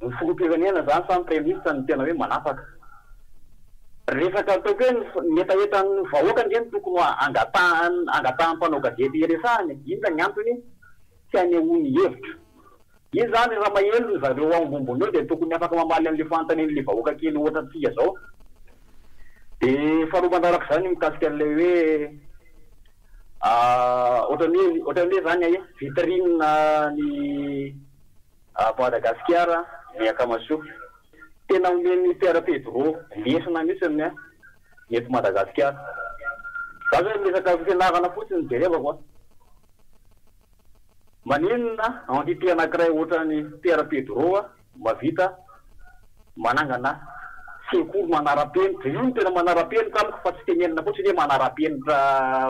ny filoham-pirenena zany sa ny praiminisitra no tena hoe manapaka? Resaka ataoko hoe ny hetahetan'ny vahoaka ange no tokony ho angatahan'ny angatahan'ny mpanao gazety hiresahana e! Inona ny antony tsy hanehoany hevitra? Izy zany raha maheloka ry zareo ao Ambombono eo dia tokony afaka mamaly an'le fanontanian'le vahoaka kely ohatra antsika zao. De faharoa manarak'izany ny mikasika an'ilay hoe ohatra ny hoe ohatra ny hoe zany aia vitrine ny Ato Madagasikara ny Akamasoa tena omen'ny Pierre Pedro lesona mihitsy ny eto Madagasikara. Za zao resaka fianarana fotsiny no jerevako a! Maninona entité anakiray ohatran'i Pierre Pedro a mavita manangana sekoly manarapenitra, io no tena manarapenitra amiko fa tsy tenenina fotsiny hoe manarapenitra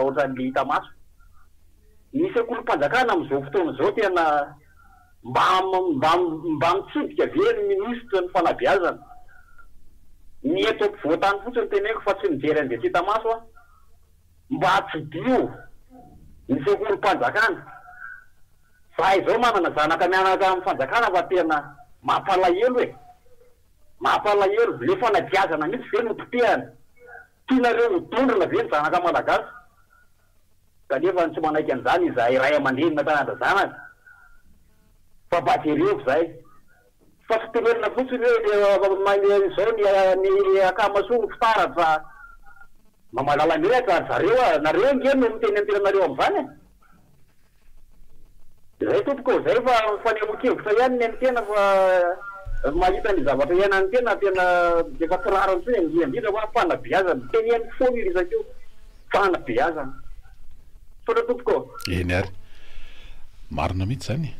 ohatran'le hita maso. Ny sekolim-panjakana amzao fotoana zao tena. Mba mba mba mitsidika ve ny minisitry ny fanabeazana? Ny eto ampovoantany fotsiny teneniko fa tsy mijery an'izay tsy hita maso aho. Mba tsidiho ny sekolim-panjakana. Zahay izao manana zanaka mianaka amin'ny fanjakana fa tena mampalahelo e! Mampalahelo. Le fanabeazana mihitsy ve no potehana? Tianareo ho dondrona ve ny zanaka malagasy? Kanefa ny tsy manaiky an'izany izahay ray aman-dreny na taranja zanaka fa mba jereo izay fa tsy tenenina fotsiny hoe dia maime izao ny ny akama soa ho fitaratra fa mba mahalala menatra ry zareo a! Nareo ange no miteny ny tenanareo amin'izany e! Zay tompoko ô, zay fa fanehoan-kevitra ihany ny an'ny tena fa ny mahita ny zavatra iainan'ny tena tena efa tsy rariny intsony e, indrindra hoa fanabeazana, teneniko foana io resaka io, fanabeazana. Misaotra tompoko ô. Eny ary. Marina mihitsy izany e.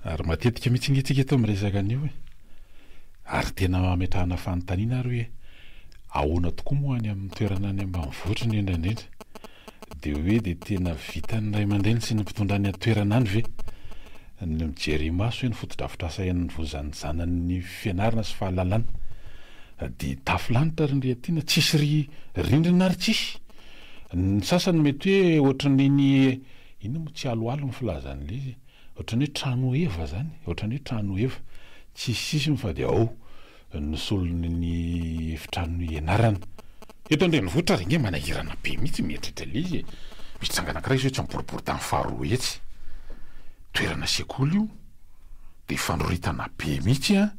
Ary matetika mihitsy ange tsika eto miresaka an'io e. Ary tena ametrahana fanontaniana ary hoe ahoana tokoa moa any amin'ny toerana any ambanivohitra indrindra indrindra. Dia hoe dia tena vitan'ny ray aman-dreny sy ny mpitondra any an-toerana any ve ny mijery imaso hoe ny fotodrafitrasa hianvozan'ny zanany ny fianarana sy fahalalana? Dia tafo lanitra ry ndry aty na tsisy ry rindrina ary tsisy! Ny sasany mety hoe ohatran'iny inona moa tsy aloalo ny filazan'ilay izy? ohatran'ny hoe trano heva zany, ohatran'ny hoe trano heva, tsisy sisiny fa dia ao. ny solony ny efitrano ianarana. Eto an-drenivohitra ary ange manahirana be mihitsy mieritreritra ilay izy e! Misy tranga anankiray izao etsy amin'ny boriboritany faharoa etsy. Toerana sekoly io, dia fanoritana be mihitsy an!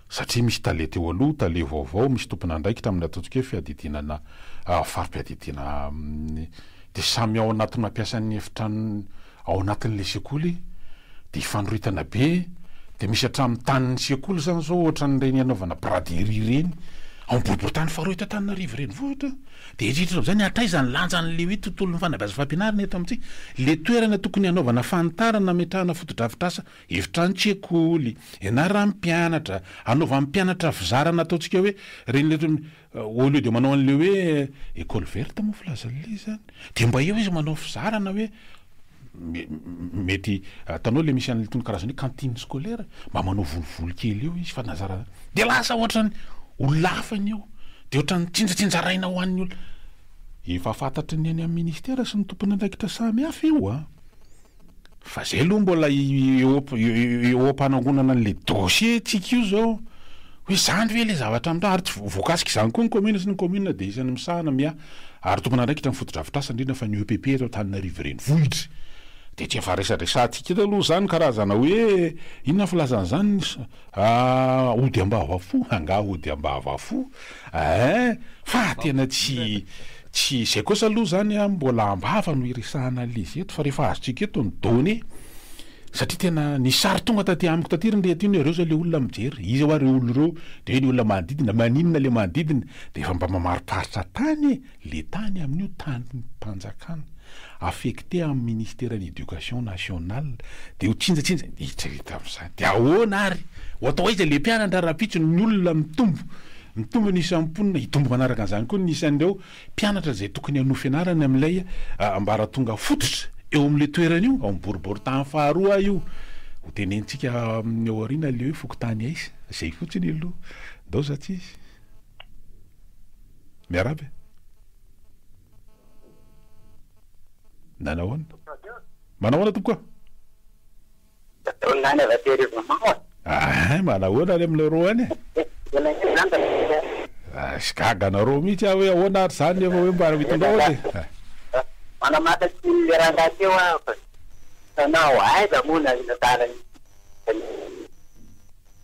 satria misy tale teo aloha, tale vaovao, misy tompon'andraikitra amin'ny ataontsika hoe fiadidiana na fari-piadidiana dia samy ao anaty mampiasa ny efitrano Ao anatin'ilay sekoly dia hifanoritana be dia misy hatramin'ny tanin'ny sekoly izany zao ohatran'ireny hanaovana braderie ireny ao amin'ny boriborintany faharoa eto Antananarivo renivohitra dia hieritreritra amin'izay ny hatraiza ny lanjan'ilay hoe tontolon'ny fanabeazana sy fampianarana eto amintsika ilay toerana tokony hanaovana fanitarana hametrahana fotodrafitrasa efitrano-tsekoly ianaran'ny mpianatra hanaovan'ny mpianatra fizarana ataontsika hoe ireny Au lieu de manao an'le hoe ecole verte moa filazan'le izy zany de mba eo izy manao fizarana hoe mety atanao le misy an'itony karazana hoe cantine scolaire mba manao volovolo kely eo izy fa na zara de lasa ohatrany olona hafa ny eo de ohatrany tsinjatsinjaraina ho an'ny olona efa fantatry ny any amin'ny ministera sy ny tompon'andraikitra samy hafa io an! Fa zay aloha mbola eo am-panangonana an'ilay dossier-ntsika io izao, hoe zany ve ilay zavatra mitranga, ary tsy voakasik'izany koa ny kaominina, satria ny kaominina dia isan'ny misahana, mia, ary tompon'andraikitra ny fotodrafitrasa, indrindra fa ny EPP eto Antananarivo Renivohitra. Dia tsy efa resadresantsika eto aloha izany, karazana hoe, inona ny filazana an'izany? Ah ody ambava fo angaha ody ambava fo eeh fa tena tsy tsy izay kosa aloha izany an mbola ambava no iresahana an'il'izy eto fa rehefa azontsika eto ny données satria tena ny sary tonga taty amiko taty ry reto iny hoe ireo izao ilay olona mijery iza hoa ireo olona ireo dia hoe ny olona manodidina maninona ilay manodidina dia efa mba mamariparitra tany e! Le tany amin'io tanim-panjakana affecté amin'ny ministeran'ny éducation nationale dia ho tsinjatsinja, eritrereta amin'izany, dia ahoana ary? Ho atao aiza le mpianatra rahampitso ny olona mitombo, mitombo ny isan'ny mponina, hitombo manaraka an'izany koa ny isan'ireo mpianatra izay tokony hanohy fianarana amin'ilay ambaratonga fototra eo amin'io toerana io, ao amin'ny boriboritany faharoa io, ho tenenitsika amin'ny ao aoriana le hoe fokontany aiza, izay fotsiny aloha, ndao za tsy izy. Miarahaba e! Na nahoana? Manao ahoana tompoko a? Ahay manahoana any aminareo any e? Ash gaga anareo mihitsy aho hoe ahoana ary zany nefa hoe mba hitondrao aza e!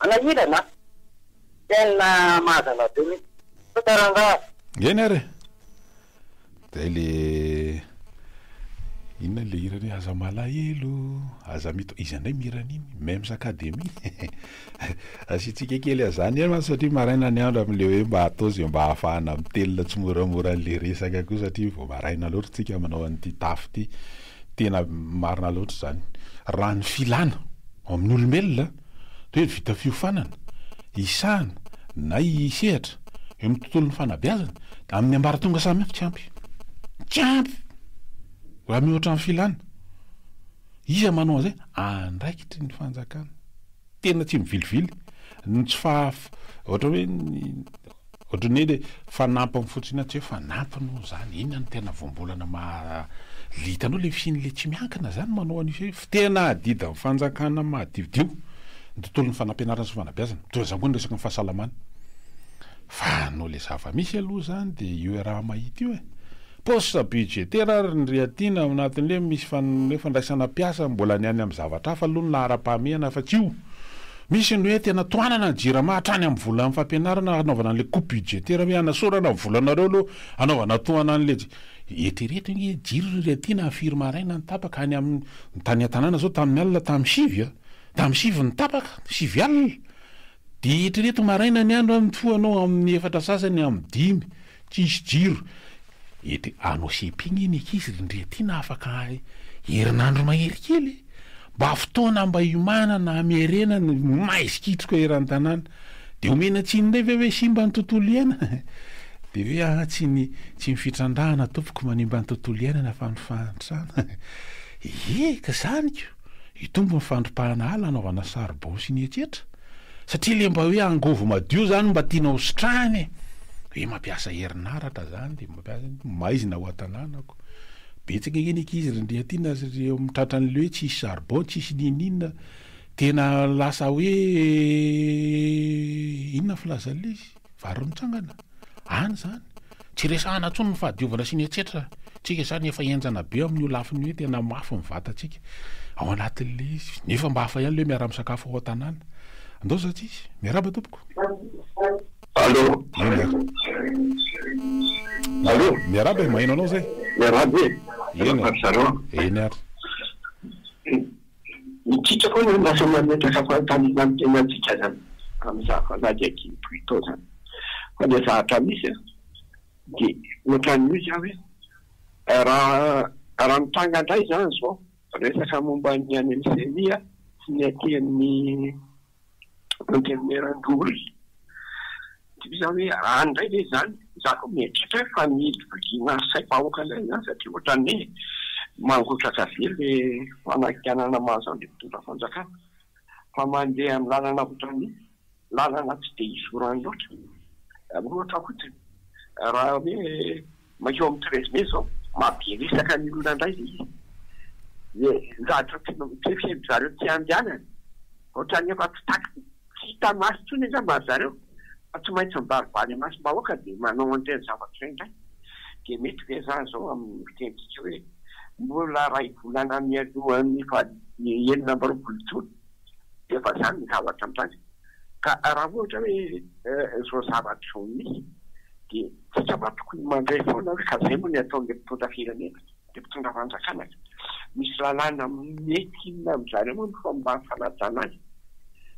Manahirana a! Tena mahazana be mihitsy. Tonta rangaha. Eny ary e! Zay le inona le hirany hoe aza malahelo, aza mito, iza ndray mihira an'iny? Mems Academy? Asiantsika kely an'zany eo an satria maraina ny andro amin'le hoe mba atao ze mba ahafahana mitelina tsimoramora an'le resaka koa satria vao maraina loatra tsika manao an'ity tafo ity. Tena marina loatra zany. Raha ny filana ao amin'ny olombelona. Toe vita fiofanana, hisahana na hisehatra eo amin'ny tontolon'ny fanabeazana amin'ny ambaratonga samihafa tsy ampy. Tsy ampy! Raha mihoatra ny filana. Iza manao an'izay? Andraikitry ny fanjakana. Tena tsy mivilivily ny tsy fahaf, ohatra hoe ny Ohatran'ny hoe le fanampiny fotsiny tsy hoe fanampiny moa zany, inona no tena voambolana maha le hitanao le fihiny le tsy miankina zany manao an'io fihiny fa tena adidin'ny fanjakana mahadiodio ny tontolon'ny fanampianarana sy fanabeazana, toy izany koa ny resaka ny fahasalamana fa anao le zava-misy aloha zany de io iaraha-mahita io e! Poste budgétaire ary ny riatina ao anatin'le misy hoe fandraisana mpiasa mbola ny any amin'ny zavatra hafa aloha ny laharam-pahamehana afa-tsy io. Misy ny hoe tena tohanana ny jirama hatrany amin'ny volan'ny fampianarana hanaovana an'le coupe budgétaire hoe hanasorana ny volanareo aloha hanaovana tohana an'le eritrereto ange jiro ry riatina firy maraina ny tapaka any amin'ny tany an-tanàna zao tamin'ny alina tamin'ny sivy a! tamin'ny sivy ny tapaka sivy alina Dia eritrereto maraina ny andro mifoha anao amin'ny efatra sasany amin'ny dimy tsisy jiro ety Anosimpigny iny ankizy ry ndry aty na afaka herinandro mahery kely e! mba fotoana mba hiomanana hamerena ny maha izikitroka eran'ny tanàna dia omena tsiny indray ve hoe simba ny tontolo iainana dia hoe aa tsy ny tsy ny fitrandrahana tompoko manimba ny tontolo iainana fa ny fahantrana ee ka zany ko! Hitombo ny fandripahana ala hanaovana saribao sy ny etsetra satria le mba hoe angovo madio zany mba tiana ho sitrahana e! Hoe mampiasa herinaratra zany de mampiasa maizina ao an-tanànako. Betsaka ange ny ankizy ry Andriatiana sy ry eo amin'ny tratran'le hoe tsisy saribao, tsisy n'inon'inona. Tena lasa hoe inona ny filazan'le izy? Vary mitsangana? Any zany? Tsy resahana intsony ny fahadiovana sy ny etsetra tsika zany efa henjana be amin'io lafiny io tena mafy ny vatantsika ao anatin'le izy nefa mba hafa ihany le miaraha misakafo ao an-tanàna andao za tsisy miarahaba tompoko Allô Eny ary Allô Miarahaba e, maheno anao zay Miarahaba e, Eny ary Eny ary. Ny titra koa no lasa mametraka fanontaniana ny tenantsika izany amin'izany fanady ankihibohito izany. Fa ilay zavatra misy dia ohatran'ny hoe izany hoe raha mitranga indray izany izao resaka momba an'i Anelcémie sy ny aty amin'ny. Antenimierandoholona. Tsy vita hoe any indray ve izany? Izaho aloha mieritreritra hoe fa ny viliana saim-bahoaka indray izany satria ohatran'ny hoe mangotraka be ilay fanakianana mahazo an'ilay mpitondra fanjakana fa mandeha amin'ny lalana ohatran'ny hoe lalana tsy dia izorany loatra. Ohatra fotsiny, raha hoe. Mankeo amin'ny treize mai zao maha be resaka ny olona indray ilay izy. Dia zavatra tsikarivo zareo tsy handehanana. Ohatrany efa tsy takina, tsy hita maso intsony angamba ry zareo fa tsy maintsy mibaribary imasom-bahoaka dia manao an'ireny zavatra ireny indray. Dia mety ve za zao amin'ny fitenintsika hoe mbola iray volana mialohan'ny faha enina amby roapolo jona? efa izany ny zavatra mitranga. Ka raha ohatra hoe izao zavatra izao misy dia isika mantsy tokony mandray foana hoe ka izay moa ny ataon'ilay mpitondra firenena, ilay mpitondra fanjakana ka. Misy lalàna mety inona amin'izany moa no fomba fanajana azy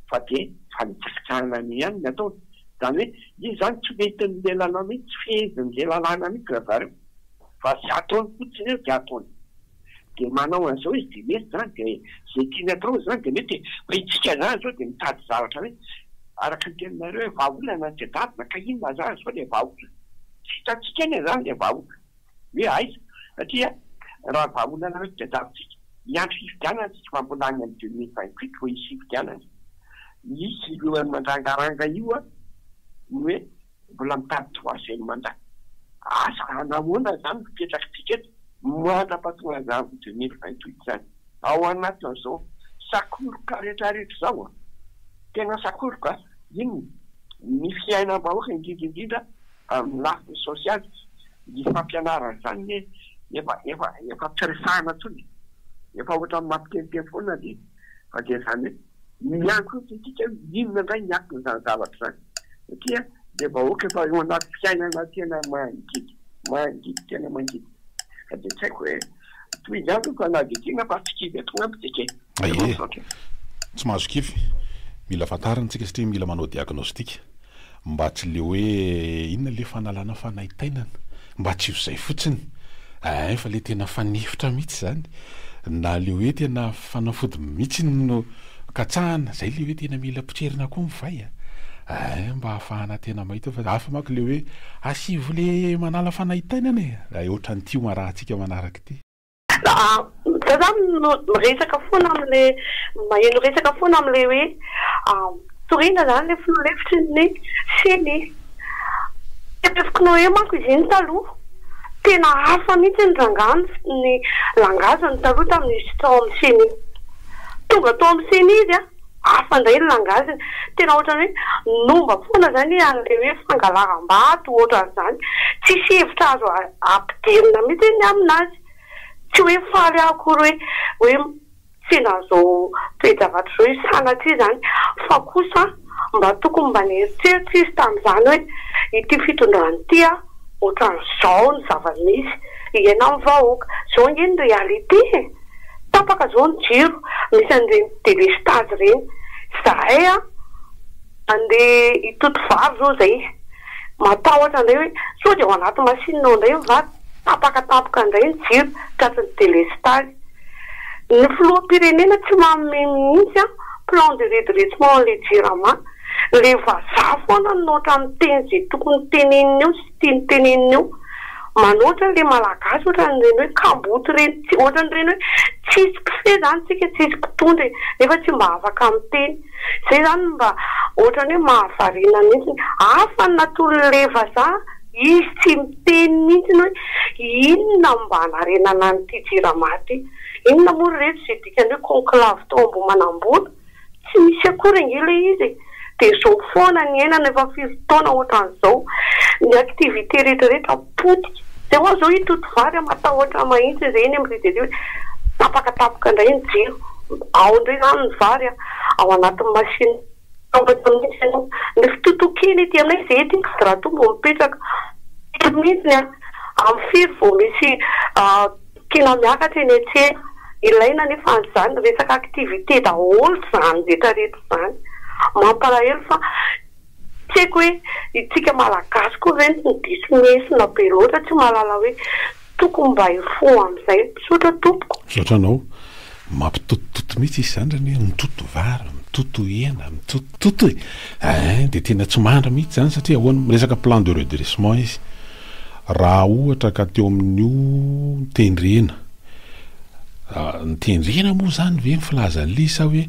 fa dia fanitsakitsahana an'iny ihany ny ataony. Izany hoe izy izany tsy mety amin'ilay lalàna iny, tsy fehezin'ilay lalàna mihitsy ry zareo fa izay ataony fotsiny eo dia ataony. dia manao an'izao izy dia mety izany dia izay tiany atao izy izany dia mety hoe isika izany izao dia mitady zavatra hoe araka ny teninareo hoe vahaolana ny jadadina ka inona izany izao ilay vahaolana? tsy hitantsika anie izany ilay vahaolana hoe aiza satria raha vahaolana hoe jadadintsika hiandry fifidianana isika fa mbola any amin'ny deux mille vingt huit vao hisy fifidianana, misy ireo mandrangaranga io an ny hoe. Mbola mitady troisième mandat. Asa hanahoana izany no fipetrak'tsika eto mandra patongalan'ny deux mille vingt huit izany. Ao anatin'izao sakoroka rehetra rehetra izao an! Tena sakoroka inona? Ny fiainam-bahoaka indrindra indrindra amin'ny lafiny sosialy. Ny fampianarana izany anie efa efa efa tsy resahana intsony e! Efa ohatran'ny mampiteniteny foana anie fa dia izany hoe. Miankohotra isika hoe inona indray ny aton'izany zavatra izany satria dia vahoaka efa eo anaty fiainana tena mangidy, mangidy tena mangidy ka dia tsy haiko hoe toy izany ve fa na dia tiana fa tsy kivy atao aminy isika e! Aie! Tsy mahazo kivy. Mila fantarina isika satria mila manao diagnostic. Mba tsy le hoe inona le fanalana fanaintainana mba tsy ho zay fotsiny eeh fa le tena fanefitra mitsy zany na le hoe tena fanafody mitsy no katsahana zay le hoe tena mila potserina koa ny vay a eeh mba hahafahana tena mahita fa hafa manko le hoe asivo le manala fanaintainana e! raha otran'ity hoarahantsika manaraka ity. Za zany no miresaka foana amle maheno resaka foana amle hoe torina zany le filoha lefitry ny ceni. Tebeziko noe manko izy iny taloha tena hafa mihitsy ny rangah ny langage ny taloha tamin'izy tsy tao amin'ny ceni. Tonga tao amin'ny ceni izy an. hafa indray ny langage-ny. Tena ohatran'ny hoe nomba foana izany an'ilay hoe fangalaram-bato ohatran'izany. Tsisy hevitra azo ampidirina mihitsy ny aminazy. Tsy hoe faly aho akory hoe hoe sendra an'izao toe-javatra izao io sanatria izany fa kosa mba tokony mba nieritreritra izy tamin'izany hoe ity fitondrana ity a, ohatran'izao ny zava-misy iainan'ny vahoaka. Izao ange ny réalité e! Tapaka zao ny jiro, misy an'ireny delestazy ireny. Zahay an, andeha hitoto vary zao zay, matahotra indray hoe sao dia ao anaty machine ao indray ny vary, tapaka tampoka indray ny jiro, tratry ny delestazy. Ny filoham-pirenena tsy manome mihitsy an, plan de redressement an'ilay jirama. Ilay vazaha foana no ohatran'ny miteny izay tokony teneniny eo sisa. teny teneniny eo manao otrany le malagasy otrany reny hoe kamboty reny tsy otrany reny hoe tsisy mpifehy zany tsika tsisy mpitondra e nefa tsy mba afaka miteny zay zany mba otrany hoe mahavariana mintsy afa ny natolony le vazaha izy tsy miteny mintsy hoe inona mba narenana an'ity jirama ty inona moa ry reto ze dikany hoe conclave tao ambohimanambola Tsy misy akory ange ilay izy e! Dia izao foana niainana efa firy taona ohatran'izao. Ny activité rehetrarehetra potika. Izay ho'a izao i Totovary matahotra mahitsy ireny amin'ny rija ireny hoe tapaka tapaka indray ny jiro. Ao indray izany ny vary an! Ao anatin'ny machine. Matahotra mihitsy ianao. Ny fitotoan-kena ety aminay izay ety Ingadratoa mbo mipetraka. Firy mihitsy an! Amin'ny firy vao misy Tena miakatra eny an-tsena. Ilaina anefa an'izany, resaka activité daholo izany rehetra rehetra izany. Mampalahelo fa tsy haiko hoe isika Malagasy koa ve no diso lesona be loatra tsy mahalala hoe tokony mba hifoha amin'izay. Misaotra tompoko. Misaotra anao. Mampitotototo mihitsy izy izany zany hoe mitoto vary, mitoto hena, mitotototo e! Eeh dia tena tsy mandry mihitsy izany satria ahoana, miresaka plan de redressement izy. Raha ohatra ka teo amin'io tendrena, ny tendrena moa izany ve ny filazan'ilay izy sa hoe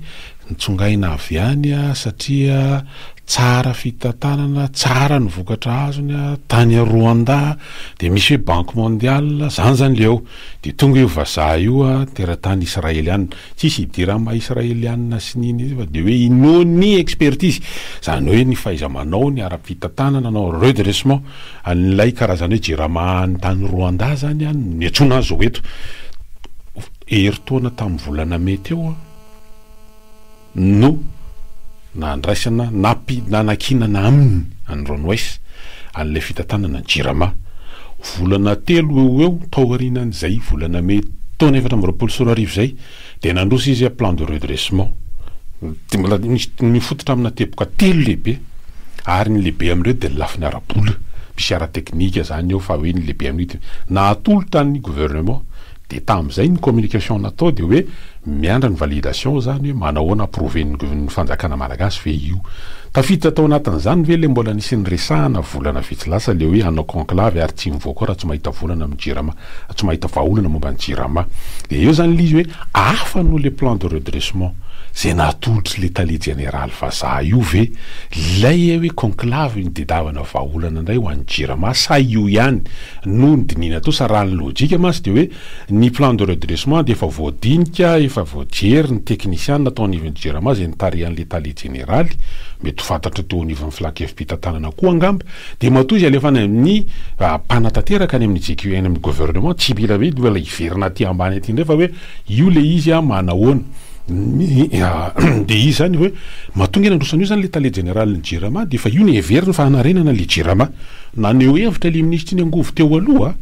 nitsongaina avy any satria tsara fitantanana, tsara ny vokatra azony tany Rwanda, dia misy hoe banque mondiale, izany izany ilay eo. Dia tonga io vazaha io teratany Israeliana, tsisy hidiran'ny maha Israeliana sy ny iny izy fa dia hoe inoany ny expertise, izany hoe ny fahaiza-manao, ny ara-pitantanana nanao redressement an'ilay karazana hoe Jirama any tany Rwanda izany no niantsoana azy ho eto, herintaona tamin'ny volana Mai teo. no nandraisana nampi nanankinana aminy, an'i Ron Weiss, an'ilay fitantanana ny Jirama. Volana telo eo ho eo taorianan'izay, volana Mey taona efatra amby roapolo sy roa arivo izay, dia nandroso izy plan de redressement. Dia mbola nisy nifototra amina teboka telo lehibe, ary ny lehibe amin'ireo dia ny lafiny ara-bola, misy ara-teknika izany ao fa hoe ny lehibe amin'io dia nahatolotra ny gouvernement, Dia tamin'izay ny communication natao dia hoe miandry ny validation izany hoe manahoana approven'ny fanjakana malagasy ve io. Tafiditra tao anatin'izany ve ilay mbola nisy niresahana volana vitsy lasa ilay hoe hanao conclave ary tsy mivoaka ao raha tsy mahita volana amin'ny jirama, tsy mahita vahaolana momba ny jirama. Dia eo izany ilay izy hoe hafa noho ilay plan de redressement izay natolotr'ilay tale jeneraly vazaha io ve ilay hoe conclave nitadiavana vahaolana indray ho an'ny jirama sa io ihany No dinihina teo sa raha ny lojika mantsy dia hoe ny plan de redressement dia efa voadinika, efa voajery ny teknisiana tao anivon'ny jirama izay nitarihan'ilay tale jeneraly, mety ho fantatry ny teo anivon'ny filankevi-pitantanana koa angamba, dia matoa izy alefa any amin'ny mpanatanteraka any amin'ny GQA any amin'ny gouvernement tsy mila hoe hiverina aty ambany aty indray fa hoe Io le izy a ma nahoana dia izy zany hoe matonga nandroso an'io zany le tale jeneralin'ny jirama dia efa io no heveriny fa hanarenana le jirama. Naneho hevitra le minisitry ny angovo teo aloha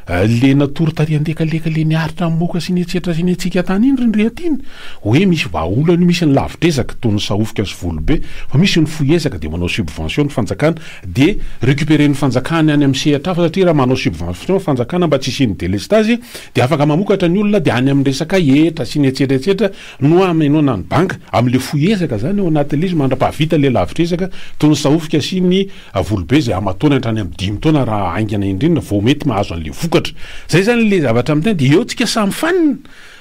a, le natory tary andekaleka le miaritra ny moka sy ny etsetra sy ny etsika tany iny ry Ndriatiana hoe misy vahaolana io misy ny lavidrezaka toy ny sahofika sy volobe fa misy ny fohy ezaka dia manao subvention ny fanjakana dia recuperen'ny fanjakana any amin'ny sehatra hafa satria raha manao subvention ny fanjakana mba tsy hisian'ny delestage dia afaka mamokatra ny olona dia any amin'ny resaka hetra sy ny etsetretsetra no hamenoana ny bank amin'ilay fohy ezaka zany ao anatin'ilay izy mandrapahavita ilay lavitr'ezaka toy ny sahofika sy ny volobe izay hamatoany hatrany amin'ny dimy taona raha haingana indrindra vao mety mahazo an'ilay vokatra zay zany ilay zavatra amin'ny tena dia eo tsika samy mifanina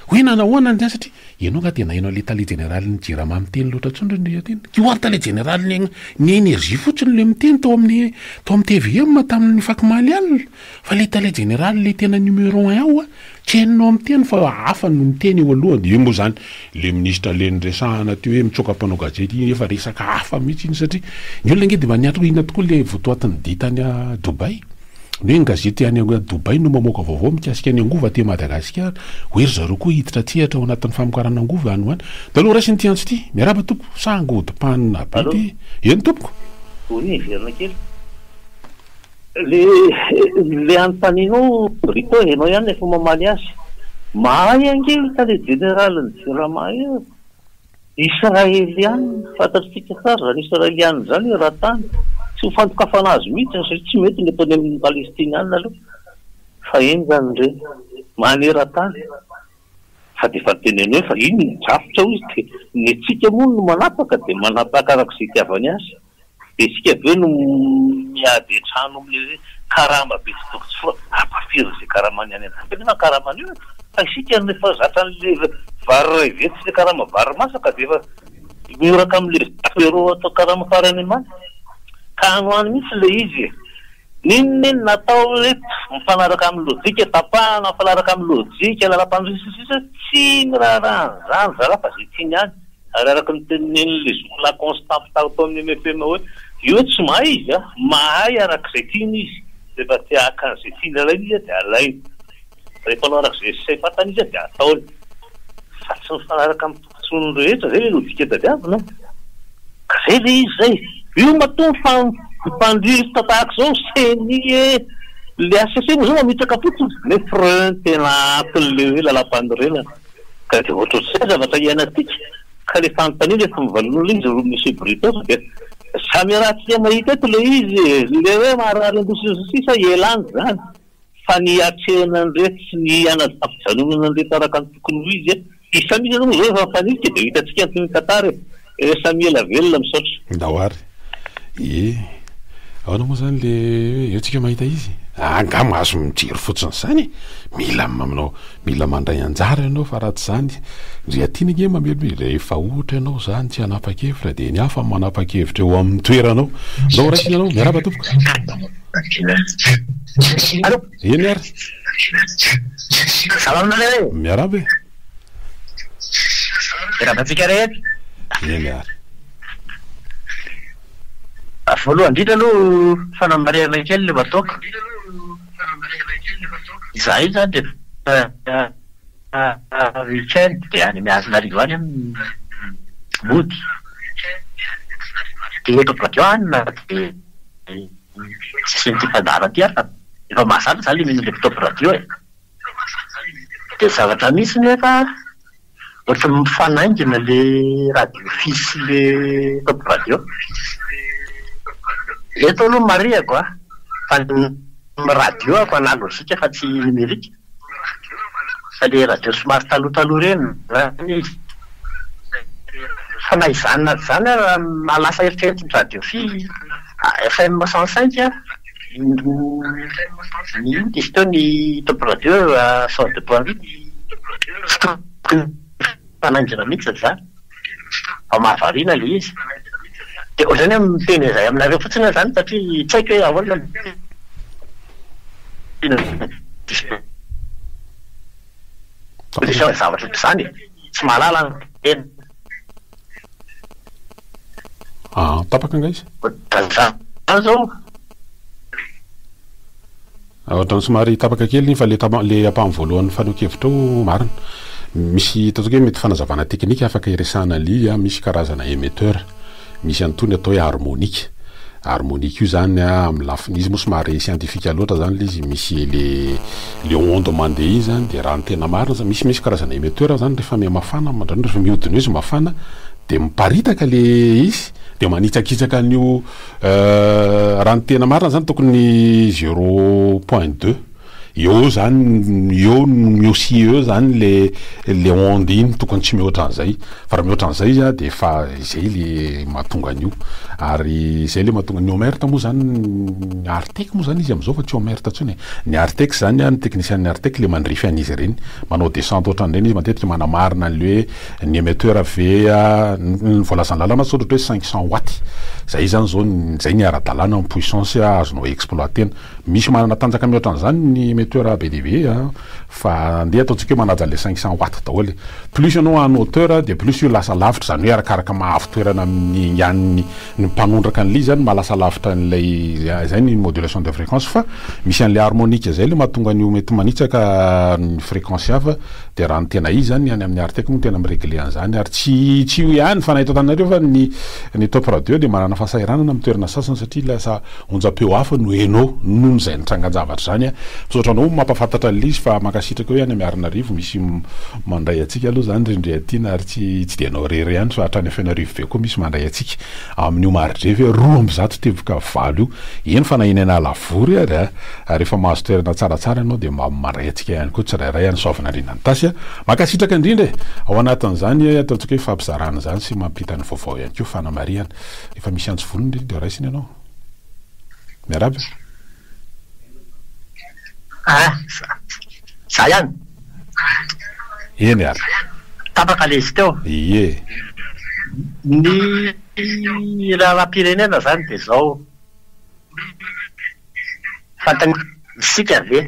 hoe nanahoana ny tena satria ianao nga dia naheno an'ilay tale jeneralin'ny jirama miteny loatra intsony ry ndry tena io ary tale jeneralin'ny ny energie fotsiny ilay miteny tao amin'ny tao amin'ny tvm tamin'ny faky maly alina Fa le tale jeneraly le tena numéro un ao a! Tsy hainao miteny fa hafa no miteny eo aloha de eo moa zany le ministra le niresahana teo hoe mitsoaka mpanao gazety iny efa resaka hafa mihitsy iny satria ny olona ange de mba niatrika inona tokoa le votoatin'ny dia tany a Dubai ny hoe ny gazety any a Dubai no mamoaka vaovao mikasika ny angovo aty Madagasikara hoe ry zareo koa hiditra an-tsehatra ao anatin'ny famokarana angovo any ho any de aleo raisina ity antso ity miarahaba tompoko sahangy hodipanina be ity eny tompoko. Vory e, miverina kely. Ilay anontanianao Rico e, ianao ihany no efa mamaly azy. Mahay ange io tale jeneralin'ny Jirama io e. Israeliana, fantatsika tsara izany Israeliana izany i Ratany. Tsy ho fandokafana azy mihitsy satria tsy mety ny ataony amin'ny Palestiniana aloha. Faheno izany ireny. Maneran-tany. Fa dia efa noteneniny hoe fa iny ny drafitra hoy izy dia ny antsika moa no manapaka dia manapaka araka izay itiavany azy. Dia isika avy eo no miady hatrany amin'ilay hoe karama be tsy toko tsy fo, ampahafiry izay karamany any an-danitra anefa ny karama anio e! Fa isika no efa zatra an'ilay vary iray vetsy sy ilay karama vary masaka dia efa mioraka amin'ilay apéro atao karama farany ambany. Ka any ho any mihitsy ilay izy e! N'inona iny na atao hoe mifanaraka amin'ny lojika, tapahana mifanaraka amin'ny lojika, lalam-pandrosoana sy ny sisa, tsy miraharaha an'izany zalahy fa izay tiany ihany. Ary araka ny tenin'I Leisure La Constante tao tamin'ny MFM hoe, io tsy mahay izy an, mahay araka izay tiany izy, rehefa te haka an'izay tiany alaina izy an dia alainy, rehefa hanao araka izay sahy fantany izy an dia ataony, fa tsy mifanaraka amin'ny tombotsoan'ny rehetra, izay ve no dika tadiavina an? Ka izay ve izy izay? Io matoa mifandirta tahaka izao ny ceni e! Ilay HCC moa izao mametraka fotsiny, nefa reny tena atin'ilay hoe lalàmpanorenana. Ka dia ohatrohatr'izay ny zavatra iainantsika. Ka ilay fanontaniana efa novalin'olona izy roa Monsieur Brutus dia samy iarahantsika mahita eto ilay izy, ilay hoe marary an-doha sy ny sisa ialany izany fa ny hiatrehana an'ireto sy ny hanajafijanonana an'ireto araka ny tokony ho izy. Isa mihitsy aloha izao efa mifanitsika dia ho hitantsika ny tantara e! Eh Samy ela velona misaotra. Ndao ary eh. Ahoana moa izany le hoe eo tsika mahita izy eh? Angaha mahazo mijery fotsiny izany e! Mila manao mila mandray anjara ianao fa raha tsy izany ry Atina ange mamelona e! Rehefa ohatra ianao izany tsy hanapa-kevitra dia ny hafa manapa-kevitra eo amin'ny toeranao. Ndao ho raisina ianao. Miarahaba tompoko. Eny ary. Miarahaba e. Miarahaba antsika rehetra. Eny ary. Voalohany indrindra aloha fanamarihana kely ilay Watoka. Izahay izany rehefa week-end dia any Miarinarivo any mody. Dia eto Badian na dia ny sisin'ity fandaharan'ity ary fa efa mahazatra izany ilay mino an'ilay mpitobra radio e. Dia zavatra misy nefa ohatry ny mifanaingina le radio fils sy le top radio. Eto aloha marihako a, fa ny radio ako analozika fa tsy nimerika, fa le radio somary taloha taloha ireny izany izy. Fa na izany na tsy izany ary raha lasa eritreretin'ny radio fils FM cent cinq a. Misy koa ny top radio sort de poids lourd, tsy tokony hifanaingina mihitsy izany fa mahavariana ilay izy. Dia ohatrany hoe miteny izay aminareo fotsiny aho izany satria tsy haiko hoe ahoana no tena disponibilité ny zavatra toy izany e. Tsy mahalala ny teny. Aa tapaka nga izy. Ohatran'izany zao. Ohatrany somary tapaka kely iny fa le tapa le ampahany voalohan'ny fanehoan-kevitra ao marina. Misy ataontsika hoe mety fanazavana teknika afaka iresahana lily a, misy karazana émetteur. Misy an'itony atao hoe harmonika. Harmonika io zany a, amin'ny lafiny, izy moa somary siantifika loatra zany le izy, misy le le onde mandeha iny zany de raha ny tena marina zany, misy misy karazana emetteur zany rehefa miha mafana na mandrana, rehefa mihodina eo izy mafana de miparitaka le izy de manitsakitsaka an'io raha ny tena marina zany tokony zero point deux. Eo zany eo eo sy eo zany le le onde iny tokony tsy mihoatra an'izay fa raha mihoatra an'izay izy a de efa izay le mahatonga an'io ary izay le mahatonga ny omert moa zany ny artec moa zany izy am'zao fa tsy omert intsony e, ny artec zany a ny teknisian'ny artec le mandrify an'izy ireny manao descente ohatran'ireny izy matetika manamarina an'le hoe ny emetteur ve a ny voalazan'ny lalàna zao ohatra hoe cinq cent watts zay zany zao ny zay ny ara-dalàna ny puissance azonao exploiter-na. Misy manana tanjaka mihoatra an'izany ny emetteur be dia be a! Fa andeha ataontsika hoe manaja an'ilay cinq cents watts daholo e! Plus ianao en hauteur dia plus io lasa lavitra, izany hoe arakaraka maha avo toerana amin'ny an'ny ny mpanondraka an'ilay izy izany maha lasa lavitra an'ilay izy, izay ny modulation de fréquence fa misy an'ilay harmonica izay ilay mahatonga an'io mety manitsaka ny fréquence hafa dia raha ny tena izy izany ny any amin'ny Artec moa no tena mi-regler an'izany ary tsy tsy io ihany fa na eto Antananarivo fa ny ny top radio dia manana fahasahiranana amin'ny toerana sasany satria lasa Onjam-peo hafa no heno noho izay nitrangan-javatra izany. Misaotra anao mampahafantatra an'ilay izy fa mankasitraka eo ihany Miarinarivo misy mandray antsika aloha izany ry Ndriatiana ary tsy tsy dia ianao irery ihany fa hatrany Fenoarivo be koa misy mandray antsika amin'io maridrefy roa amby zato teboka valo io eny fa na eny Analavory ary ary efa mahazo toerana tsaratsara ianao dia mba mandray antsika ihany koa tsirairay any Soavinandriana Nitasy a Mankasitraka indrindra e! Ao anatin'izany ataontsika hoe fampizarana izany sy mampita ny vaovao ihany koa fanamarihana. Art. Efa misy antsy volony re dia raisina ianao. Miarahaba e. Ah! Za ihany? Eny ary. Tapaka le izy teo. Ie. Ny lalam-pirenena zany de zao. Fantany isika ve?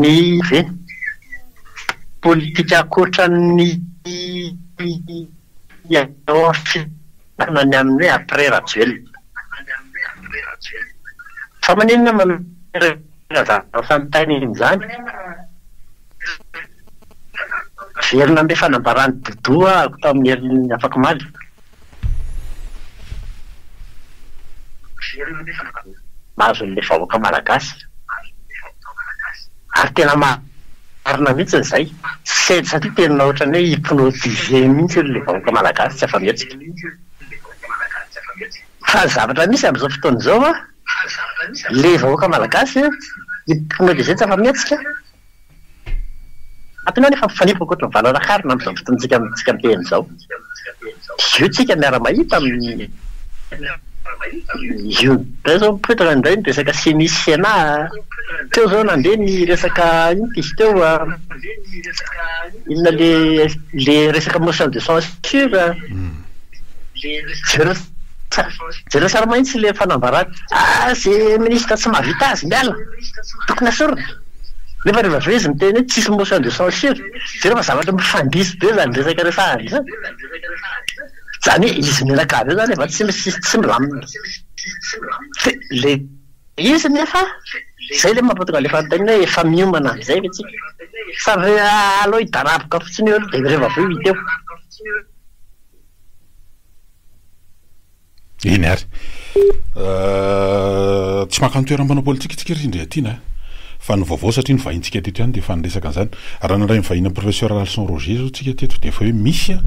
Ny ve politika ankoatra ny eo amin'ny fitondrana ny amin'ny hoe après Rajoelina? Fa maninona manome razafintany an'izany? Miverina amin'ilay fanambaran'i Doudou aho tamin'ny herin'ny afak'omaly. Azon'ny vahoaka malagasy. Ary tena marina mihitsy izay satria tena ohatran'ny hoe hypnotisé mihitsy hono ilay vahoaka malagasy tsy afa-mihetsika. Fa ny zavatra misy amin'izao fotoana izao an, ilay vahoaka malagasy an, hypnotisé tsy afa-mihetsika. Antony anefa mifanipaka ankoatra ny valala harona amin'izao fotoantsika amintsika miteny izao. Dia io tsika miara-mahita amin'ny io indray izao mipoitra indray ny resaka ceni sy cena. Teo izao nandeha ny resaka inona izy teo, inona ilay ilay resaka motion de censure. Jereo jereo tsara mahitsy ilay fanambarana. Ah ze minisitra tsy mahavita azy miala. Tokony asorina. Nefa rehefa avy eo izy miteny hoe tsisy motion de censure, jereo fa zavatra mifandisy be zany resaka resahany zany. Zany hoe izy menaka avy eo zany efa tsy misy tsy milamina. Fe le izy nefa zay le mampatonga le fanontaniana hoe efa miomana amizay ve tsika? Sa ve aleo hidaraboka fotsiny eo aloha de reva avy eo hita eo. Eny ary. Tsy maka ny toeran'ny mpanao politika isika ry Rindriatiana a! Fa ny vaovao satria novahintsika teto ihany dia efa niresaka an'izany. Raha nandray ny vahiny an'i Professeur Ralison Roger izao isika teto dia efa hoe misy a!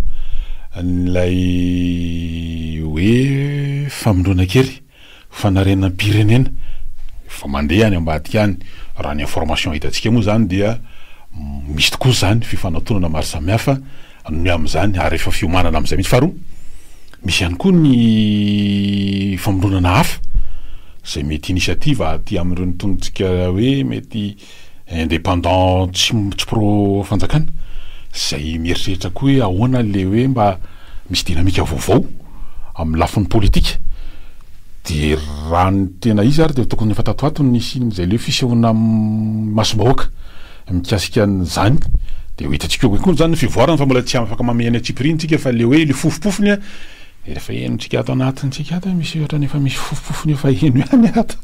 ilay hoe famindroana kely, fanarenam-pirenena. Efa mandeha any ambadika any. Raha ny information hitantsika moa izany dia misy tokoa izany fifanatonana maro samihafa. Miha amin'izany, ary efa fiomanana amin'izay mihitsy. Faharoa, misy ihany koa ny famoronana hafa izay mety initiative aty amin'ireo notondrotsika hoe mety indépendant tsy tsy pro fanjakana izay mieritreritra koa hoe ahoana le hoe mba misy dynamique vaovao amin'ny lafiny politika dia raha ny tena izy ary dia tokony efa tato ho ato ny nisian'izay le hoe fisehoana amin'ny masom-bahoaka. Mikasika an'izany dia ho hitantsika eo koa izany ny fivoarany fa mbola tsy afaka mamehy any antsipiriany isika fa ilay hoe ilay fofopofony efa henontsika ato anatintsika ato hoe misy ohatrany efa misy fofopofony efa heno ihany ato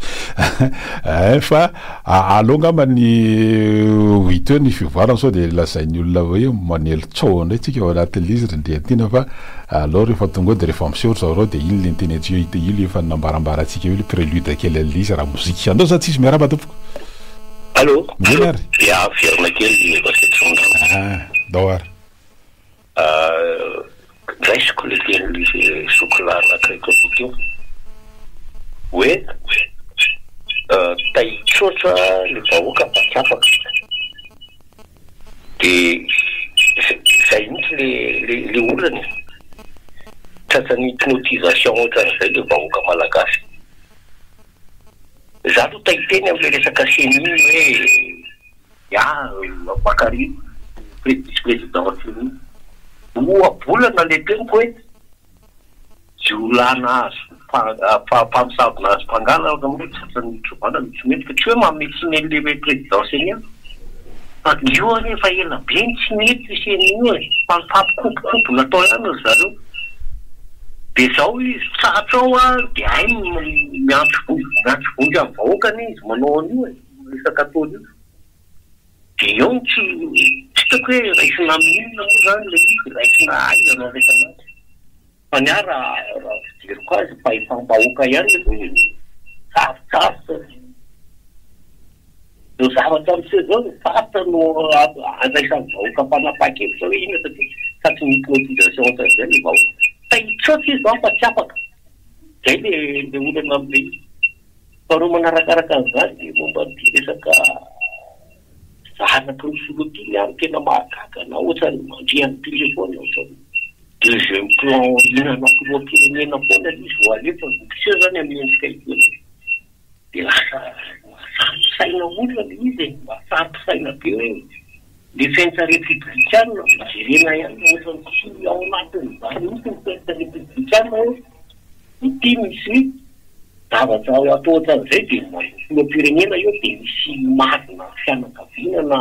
eh, fa aleo angamba ny ho hita eo ny fivoarany sao dia lazain'ny olona hoe manely tsaho indray tsika ao anatin'ilay izy ry Ndriantiana fa aleo rehefa tonga eo dia rehefa miseho ry zareo dia iny ilay ny teny antsika io ilay efa nambarambarantsika io ilay prélude kely an'ilay izy raha mozika. Andao za tsisy miarahaba tompoko. Allô, Inona ary? Dia averina kely ny vasetromangana. Ah, dao ary. Ah, raisiko le teny sokolà anakiraiky avy teo hoe tahitr'ohatra ny vahoaka fa tsy afaka. Dia izay mihitsy le le le olana e. Tratran'ny hypnotisation ohatran'izay le vahoaka malagasy. Za aloha tay teny amle resaka ceni iny hoe ya mpakary vice president ceni roa bolana le teniko hoe jiolahy nahazo mpamosavy nahazo mpangala angamba hoe tratran'ny mitrovala no tsy mety fa tsy hoe mametimely le hoe president ceni an fa io anie efa ela be no tsy nety ceni e fa mifampikobokobona tao ihany ry zareo. Dia izao izy, tratra ao ary dia hainy ny miantso vonjy, miantso vonjy amin'ny vahoaka anie izy manao an'io e, resaka ataony io. Dia eo no tsy hitako hoe raisina amin'inona moa izany ilay izy, raisina aiza no andraisana azy. Fa ny ahy raha raha fijeriko azy, fahefam-bahoaka ihany aloha e, sarotsarotsa. Zao zavatra miseho zao no faritra no andraisan'ny vahoaka mpanapaka eto zao inona satria fa tsy ny politisation otran'izay ny vahoaka fa hitrotro izy zao fa tsy afaka zay le le olana am pays faharoa manarakaraka an'izany de momba an'ity resaka zanaky ny filoha ty ny ahy no tena mahagaga anah otran'ny mandria an'i téléphone otran'ny deuxième plan hihinana filoham-pirenena foana izy ro alefa vao miseho zany amin'ny endrika ity. dia lasa mahafaty saina olona ilay izy e, mahafaty saina be hoe defensa repiblikana, mba jerena ihany fa ohatran'ny tsy ao anatin'ny zany mihintsy ny defensa repiblikana hoe ity misy zavatra atao ohatran'izay dia filoham-pirenena eo dia misy marina fianakaviana na.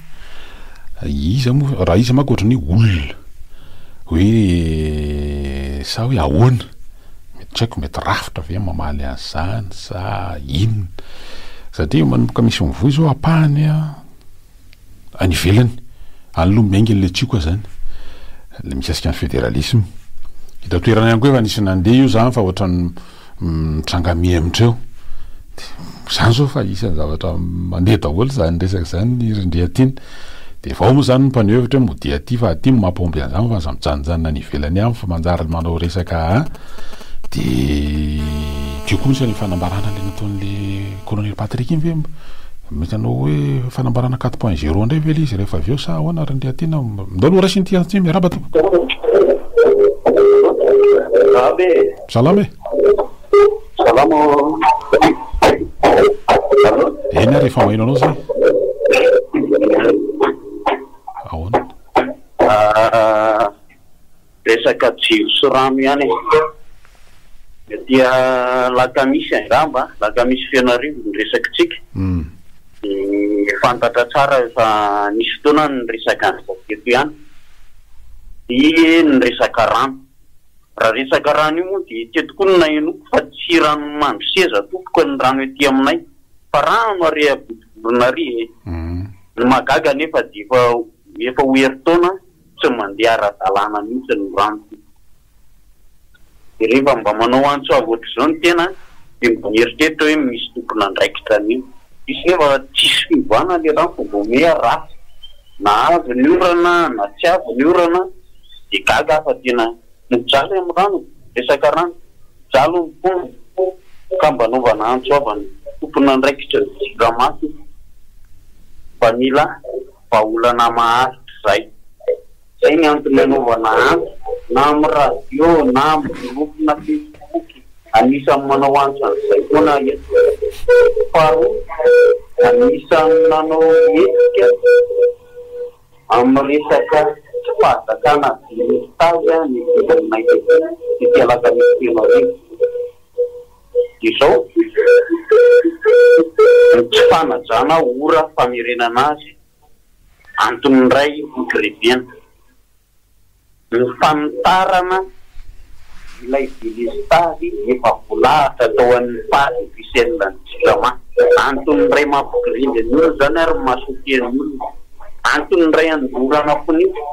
Iza moa, raha iza manko ohatran'ny hoe olona, hoe sa hoe ahoana, mety tsy haiko, mety rafitra ve mamaly an'izany sa inona, satria manomboka misy mivoy izao ampahany any ivelany, any aloha miainga ilay tsioka izany, ilay mikasika ny federalisme, eto an-toerana ihany koa efa nisy nandeha io izany fa ohatran'ny. mitranga mihemotra eo dia zany zao fa isan'ny zavatra mandeha daholo zany resaka zany ny rindria aty dia vao moa zany ny mpaneho hevitra hoe modia aty fa aty no maha pombe an'izany fa aza mijanonjanona any ivelany any fa manjary manao resaka a dia ity koa isan'ny fanambarana le nataon'le colonel Patrick iny ve mety hanao hoe fanambarana quatre point zero indray ve le izy rehefa avy eo sa ahoana rindria aty na ndao aloha raiso ity antso ity miarahaba tompoko. Salama e! Salama Allô? Eny ary efa maheno anao zay. Ahoana? Ah, resaka jiro sy rano ihany e. Aty alakamisy angamba, alakamisy fenoarivo ny resakitsika. Dia fantatra tsara efa nisy fotoana ny resaka an'izao teto ihany. Dia ny resaka rano. Raha resaka rano io moa dia teto koa no nahenoako fa tsy rano mandro seza tompoko ny rano ety aminay fa rano ary eha vodovorona ary e! Ny mahagaga anefa dia efa efa ho herintaona tsy mandeha ara-dalàna mihitsy ny rano tompoko. Dia rehefa mba manao antso avo ohatr'izao ny tena dia mba mieritreritra hoe misy tompon'andraikitra anie. Misy nefa tsisy fiovana le rano fa vao mehy ratsy na avy ny orana na tsy avy ny orana. de gaga aho fa tena mijaly am rano resaka rano mijaly ny fo ka mba anaovana antso ava ny tomponandraikitra ny jiramaso fa mila vahaolana maharitra zay zay ny antony anaovana antso na am radio na am groupe na facebook anisan manao antso anzay foana eto faharoa anisan nanao hetsika Amin'ny resaka tsy fahazakana dinika taja ny vidin'ny mainka ity alakamisy telo hariva izao, ny tsy fanajana ora famerenana azy antony iray hikiriviana. Ny fanitarana ilay delestazy efa voalahatra tao amin'ny page officielle an'ny Jirama. Antony iray mampigirindra ny olona izany ary mahasotian'ny olona. Antony iray anolorana fon'isa.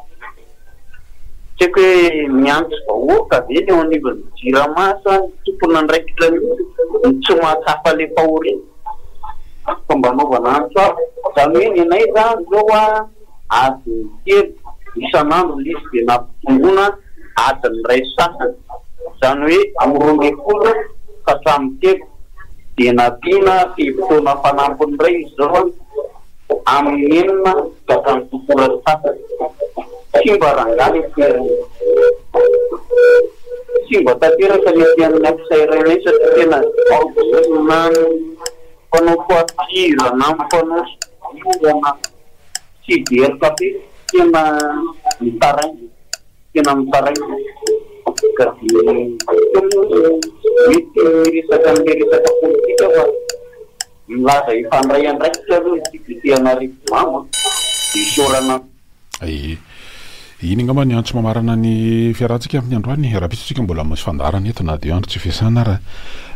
Tsy haiko hoe miantso vahoaka ve ny eo anivon'ny Jirama sa ny tompon'andraikitra mihitsy no tsy mahatsapa ilay fahoriana? Fomba anaovana antso hafa. Izany hoe ny anay izany izao an! adiny telo isan'andro lesy dia nampitomboina adiny iray sy sasany, izany hoe amin'ny roa ambin'ny folo ka hatramin'ny telo, dia nampiana fe-potoana fanampiny indray izy ireo amin'ny enina ka hatramin'ny fito ora sy sasany. Simba rangahy ny ferin'ny. Simba tanteraka ny fiainan'ny afisa iray iray satria tena aoka izay na ny mpanao tohatohira na ny mpanao soa dihy na. Tsy very café tena mitaraina tena mitaraina ka dia hita moa fa mety hiresaka an'ilay resaka politika aho fa milaza efa handray andraikitra aloha ny député an'Arivonimamo an, dia isaorana. Aie. Iny angamba ny antso mamarana ny fiarahantsika amin'ny androany. Rahampitso isika mbola misy fandaharana eto na dia andro tsy fiasana ara.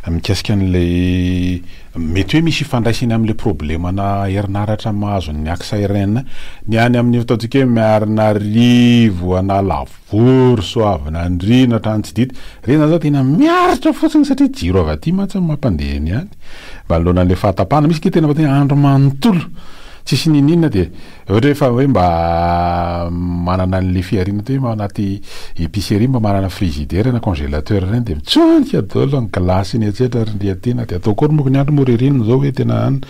Mikasika an'ilay mety hoe misy ifandraisany amin'ilay problemana herinaratra mahazo ny Axa RN. Ny any amin'ny ataontsika hoe Miarinarivo, Analavory, Soavinandriana, Antranotsididy, ireny izany izao tena miaritra fotsiny satria jiro avy aty mantsy no mampandeha ny any. Manoloana an'ilay fahatapahana misy ange tena mety hoe andro manontolo tsisy n'inon'inona dia Ohatra hoe fa hoe mba manana an'le fihariana ohatra hoe ao anaty epicerie mba manana frizidera na congelateur ireny de mitsonika daholo ny glace iny etsetra ry ndry aty na de atao akory moko ny andro moa ririnina zao hoe tena any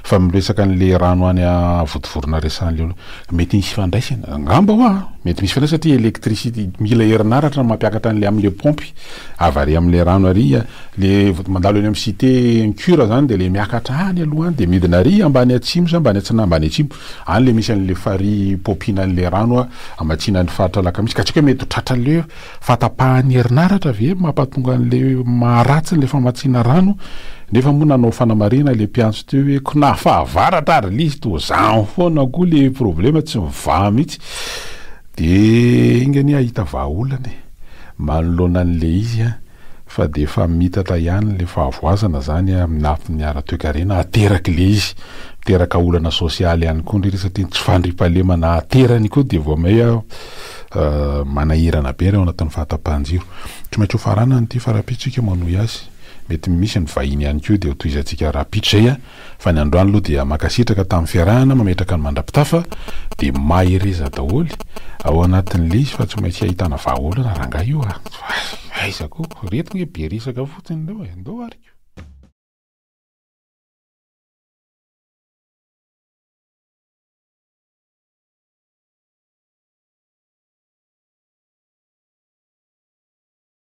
fa miresaka an'le rano any vontovorona resan'le olona mety misy ifandraisany angamba hoa mety misy ifandraisany satria electricite mila herinaratra mampiakatra an'le am'le pompy avy ary am'le rano ary Le mandalo eny am cite incur zany de le miakatra any aloha any de midina ary ambany atsimo sa ambany atsinahy ambany atsimo any le misy anle farihy pompina anle rano a amatsinany faritra alakamisy ka tsy aiko hoe mety ho tratra anle fatapahany herinaratra ve mapatonga anle maharatsy anle famatsiana rano nefa moa nanao fanamarihana le mpiantso teo hoe ko na fahavaratra ary le izy toa zany foana koa le problema tsy mivaha mitsy de enga anie ahita vahaolana e manoloana anle izy a. fa dia efa mitatra ihany ilay fahavoazana izany amin'ny lafiny ara-toekarena, ateraky ilay izy, miteraka olana sosialy ihany koa indray ilay izy satria ny tsy fandriampahalemana aterany koa dia vao may manahirana be ary ao anatin'ny fahatapahan-jiro. Tsy maintsy hofaranana ity fa rahampitso isika manohy azy, mety misy ny vahiny ihany koa dia hotohizantsika rahampitso izay an! Fa ny androany aloha dia mankasitraka tamin'ny fiarahana mametraka ny mandrapitafa dia mahereza daholo ao anatin'ny lisy fa tsy maintsy ahitana vahaolana rangahy io a! Aiza ko! Reto nge be resaka fotsiny ndao e! Ndao ary ko!